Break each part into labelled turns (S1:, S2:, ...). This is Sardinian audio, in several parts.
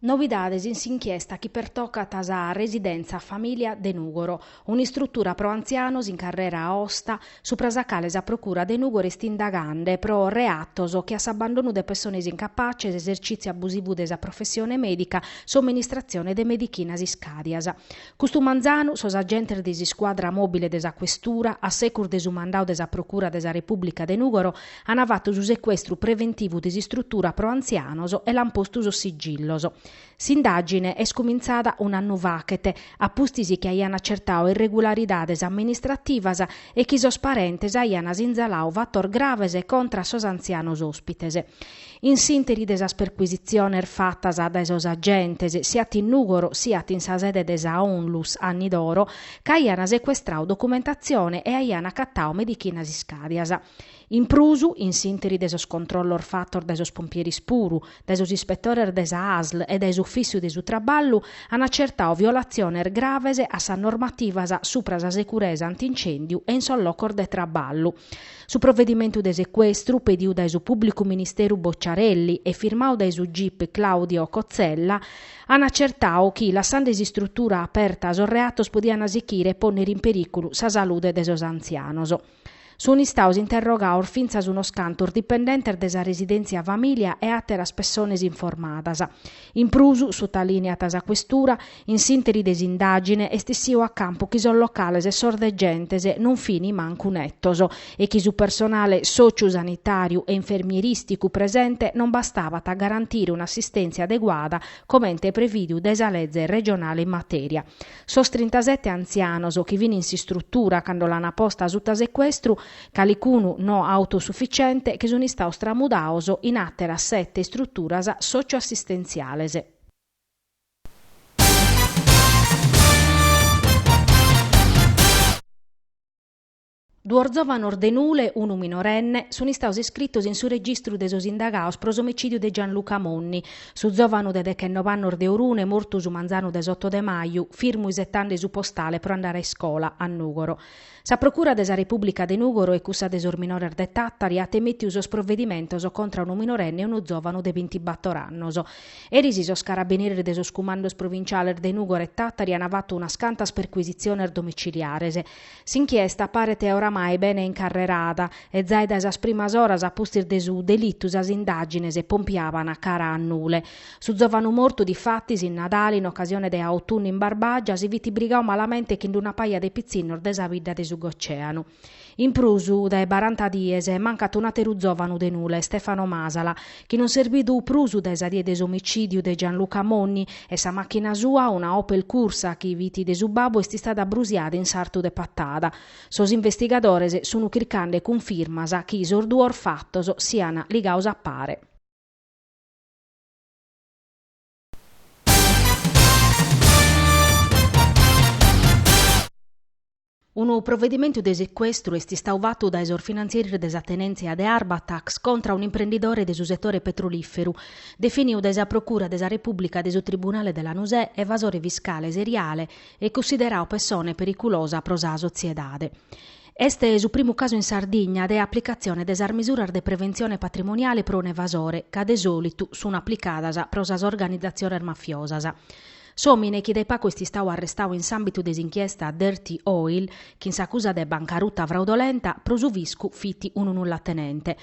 S1: Novidades in s'inchiesta chi pertocat a sa Residèntzia Famìlia de Nùgoro, un'istrutura pro antzianos in Carrera Aosta, supra sa cale sa Procura de Nùgoro est indagande pro reatos che a s'abbandonu de pessones incapaces, esercìtziu abusivu de sa professione mèdica, somministratzione de medichinas iscàdias. Custu manzanu, sos agentes de s'iscuadra mòbile de sa Questura, a secus de su mandau de sa Procura de sa Repùblica de Nùgoro, Ana fatu su secuestru preventivu de s'istrutura pro antzianos e l'an postu sos sigillos. S'indagine est cumintzada un'annu faghet, a pustis chi aian acertau irregularidades amministrativas e chi sos parentes aian sinzalau fatos graves contra a sos antzianos òspites. In s'interi de sas percuisitziones fatas dae sos agentes, siat in Nùgoro siat in sa sede de sa Onlus Anni d'Oro, ch'aian secuestrau documentatzione e aian acatau medichinas iscàdias. In prus, in s'interi de sos controllos fatos dae sos pompieris puru, dae sos ispetores de sa ASL e dae s'Ufìciu de su Traballu, an acertau violatziones graves a sas normativas supra sa securesa antincèndiu e in sos locos de traballu. Su provedimentu de secuestru, pediu dae su pùblicu ministeru Bocciarelli e firmau dae su gip Claudio Cozzella, an acertau chi, lassande s'istrutura aperta, sos reatos podian sichire e pònnere in perìculu sa salude de sos antzianos. Sun istaos interrogaos fintzas unos cantos dipendentes de sa Residèntzia Famìlia e àteras pessones informadas. In prus, sutalìneat sa Questura, in s'ìnteri de s'indàgine est essiu a campu chi sos locales e sos degentes non fin mancu netos e chi su personale sòciu-sanitàriu e infermierìsticu presente non bastabat a garantire un'assistèntzia adeguada comente prevìdiu dae sa leze regionale in matèria. Sos trintasete antzianos chi fin in s'istrutura cando l'an posta suta secuestru, calicunu no autosufficiente, che sun istaos tramudaos in àteras sete istruturas socio-assistentziales. Duos zòvanos de Nule, unu minorenne, sun istaos iscritos in su registru de sos indagaos pro s'omicìdiu de Gianluca Monni. Su zòvanu de dechenove annos de Orune, mortu su manzanu de s'oto de maju, firmu isetande su postale pro andare a iscola, a Nùgoro. Sa Procura de sa Repùblica de Nùgoro e cussa de sos minores de Tàtari at emètiu sos provedimentos contra unu minorenne e unu zòvanu de bintibator annos. Eris sos carabineris de sos cumandos provinciales de Nùgoro e Tàtari an fatu unas cantas percuisitziones domiciliares. S'inchiesta paret oramai bene incarrerada e zai dae sas primas oras a pustis de su delitu sas indàgines pompiaban cara a Nule. Su zòvanu mortu difatis in Nadale in ocasione de Autunnu in Barbagia si fit brigau malamente chin d-una paja de pitzinnos de sa bidda de su Goceanu. In prus dae baranta dies mancat un'àteru zòvanu de Nule, Stefano Masala, chi non s'est bidu prus dae sa die de s'omicìdiu de Gianluca Monni, e sa màchina sua, una Opel Cursa chi fit de su babbu est istada brusiada in sartu de Patada. Sos investigadores sun chircande cunfirmas chi sos duos fatos sian ligados a pare. Unu provedimentu de secuestru est istadu fatu dae sos finantzieris de sa tenèntzia de Arbatax contra un'imprendidore de su setore petrolìferu, definidu dae sa Procura de sa Repùblica de su Tribunale de Lanusè evasore fiscale seriale e cunsideradu pessone periculosa pro sa sotziedade. Est su primu casu in Sardigna de aplicatzione de sas misuras de preventzione patrimoniale pro un'evasore, ca de sòlitu sun aplicadas pro sas organizatziones mafiosas. S'òmine chi dae pagu est istadu arrestadu in s'àmbitu de s'inchiesta Dirty Oil, chin s'acusa de bancaruta fraudolenta, pro su fiscu fit unu nullatenente.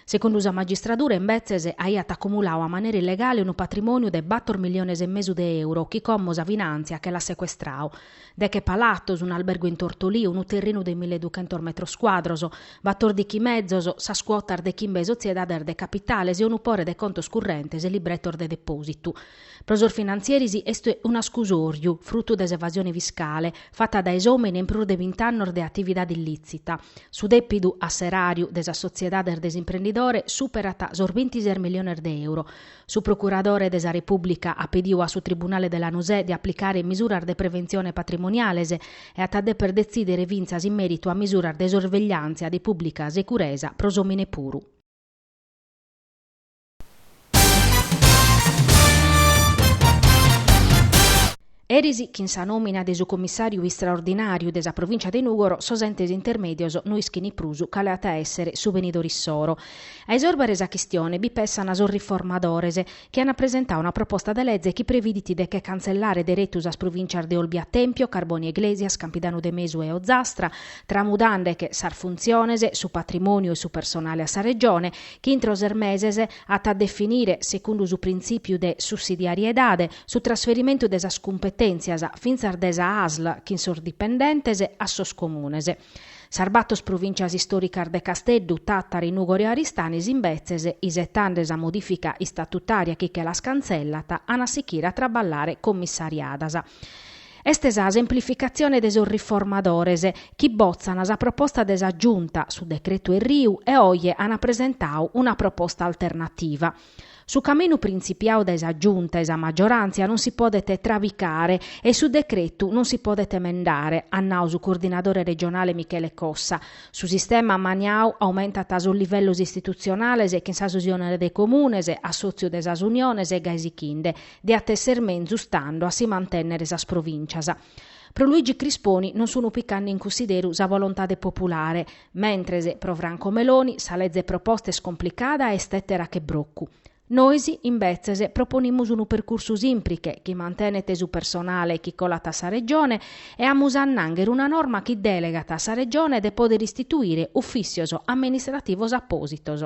S1: Segundu sa magistradura, imbetzes, aiat acumuladu a manera illegale unu patrimòniu de bator milliones e mesu de euro chi como sa finàntzia che l'at secuestradu, Deche palatos, un'albergu in Tortolì, unu terrinu de mille e duchentos metros cuadros, batordichi mezos, sas cuotas de chimbe sotziedades de capitales e unu pore de contos currentes e libretos de depòsitu. Pro sos finantzieris est un'ascusòriu, frutu de s'evasione fiscale, fata dae s'òmine in prus de bint'annos de atividade illìtzita. Su dèpidu a s'eràriu de sas sotziedades de s'imprendidore superat sos bintises miliones de euro. Su procuradore de sa Repùblica at pediu a su tribunale de Lanusè de aplicare misuras de preventzione patrimoniales e at a deper detzìdere fintzas in mèritu a misuras de sorvegliàntzia de pùblica seguresa pro s'òmine puru. Eris chin sa nòmina de su Commissàriu Istraordinàriu de sa Provìncia de Nùgoro sos entes intermèdios no ischin prus cale at a èssere su benidore issoro. A isòrbere sa chistione bi pessana sos riformadores, chi ana presentadu una proposta de leze chi previdit de che cantzellare deretu sas provìncias de Olbia Tèmpio, Carbònia Iglèsias, Campidanu de Mesu e Ozastra, tramudande che sas funtziones, su patrimòniu e su personale a sa Regione, chi intro ses meses at a definire, segundu su printzìpiu de sussidiariedade, su trasferimentu de sas cumpetèntzias, fintzas de sa ASL chin sos dipendentes, a sos Comunes. Sas bator provìntzias istòricas de Casteddu, Tàtari, Nùgoro e Aristanis, imbetzes, isetande sa modìfica istatutària chi che las cantzellat, an a sichire a traballare commissariadas. Est sa semplificatzione de sos riformadores, chi botzan sa proposta de sa Giunta, su decretu Erriu, e oje an presentadu una proposta alternativa. Su caminu printzipiau dae sa Giunta e sa maggiorantzia non si podet trabicare e su decretu non si podet emendare, at nau su coordinadore regionale Michele Cossa. Su sistema maniau aumentat sos livellos istitutzionales chin sas uniones de comunes, assòtziu de sas uniones e gai sichinde diat èssere menzus tando a si mantènnere sas provìncias. Pro Luigi Crisponi non sun picande in cunsideru sa volontade populare, Mentres, pro Franco Meloni, sa leze proposta est complicada e est tètera che brocu. Nois, imbetzes, proponimus unu percursu sìmpriche, chi mantenet su personale chi colat a sa Regione e amus a annànghere una norma chi dèlegat a sa Regione de pòdere istituire ufìssios amministrativos apòsitos.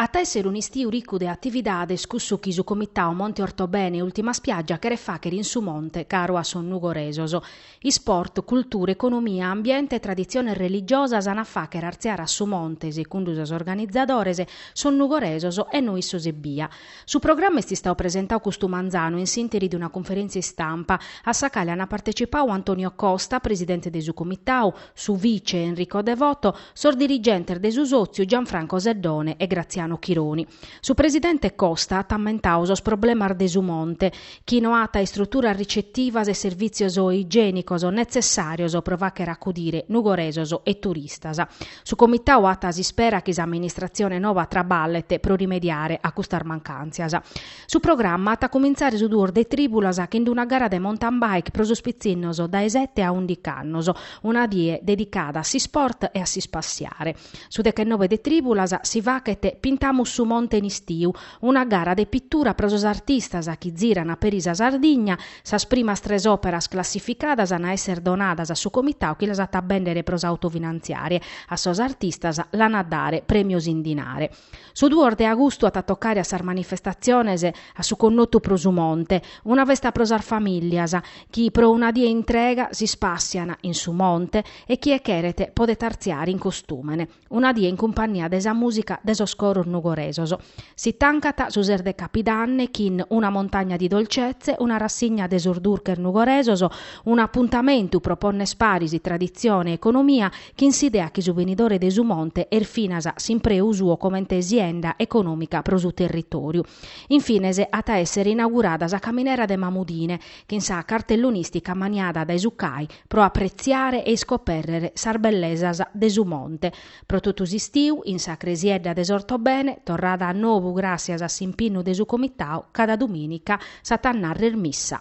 S1: At a èssere un'istiu ricu de atividades cussu chi su Comitau Monte Ortobene Ultima Spiaggia cheret fàchere in su monte caru a sos nugoresos. Isport, cultura, economia, ambiente e traditziones religiosas an a fàchere artziare a su monte, secundu sos organizadores, sos nugoresos e no issos ebbia. Su programma est istau presentau custu manzanu in s'interi de una cunferèntzia istampa, a sa cale an partecipau Antonio Costa, presidente de su Comitau, su vice, Enrico Devoto, sos dirigentes de su sòtziu Gianfranco Seddone e Graziano Chironi. Su presidente Costa at ammentau sos problemas de su Monte, chi no at istruturas ricetivas e servìtzios igiènicos netzessàrios pro fàchere acudire nugoresos e turistas. Su Comitau at s'ispera chi s'amministratzione noba traballet pro rimediare a custas mancàntzias. Su programma at a comintzare su duos de trìbulas chin d'una gara de mountain bike pro sos pitzinnos dae sete a ùndiche annos, una die dedicada a s'isport e a s'ispassiare. Su dechenobe de trìbulas si fachet Pintamus su monte in istiu, una gara de pitura pro sos artistas chi ziran peri sa Sardigna, Sas primas tres òperas classificadas an a èssere donadas a su comitau chi las at a bèndere pro s'autofinantziare, a sos artistas l'an a dare prèmios in dinare. Su duos de agustu at a tocare a sas manifestatziones a su connotu Pro su Monte, una festa pro sas famìllias, chi pro una die intrega s'ispàssian in su monte e chie cheret podet artziare in costùmene. Una die in cumpannia de sa mùsica de sos coros nugoresos. Si tancat su ses de Capidanne chin Una montagna di dolcezze, una rassigna de sos durches nugoresos, un'apuntamentu pro pònnere paris traditzione e economia, chin s'idea chi su benidore de su monte est finas s'impreu suo comente e sienda econòmica pro su territòriu. In fines at a èssere inaugurada sa caminera de Mamudine, chin sa cartellonìstica maniada dae su CAI, pro apretziare e iscopèrrere sas bellesas de su monte. Pro totu s'istiu, in sa Cresiedda de s'Ortobene, torrada a novu gràssias a s'impinnu de su Comitau, cada dumìnica s'at a nàrrer missa.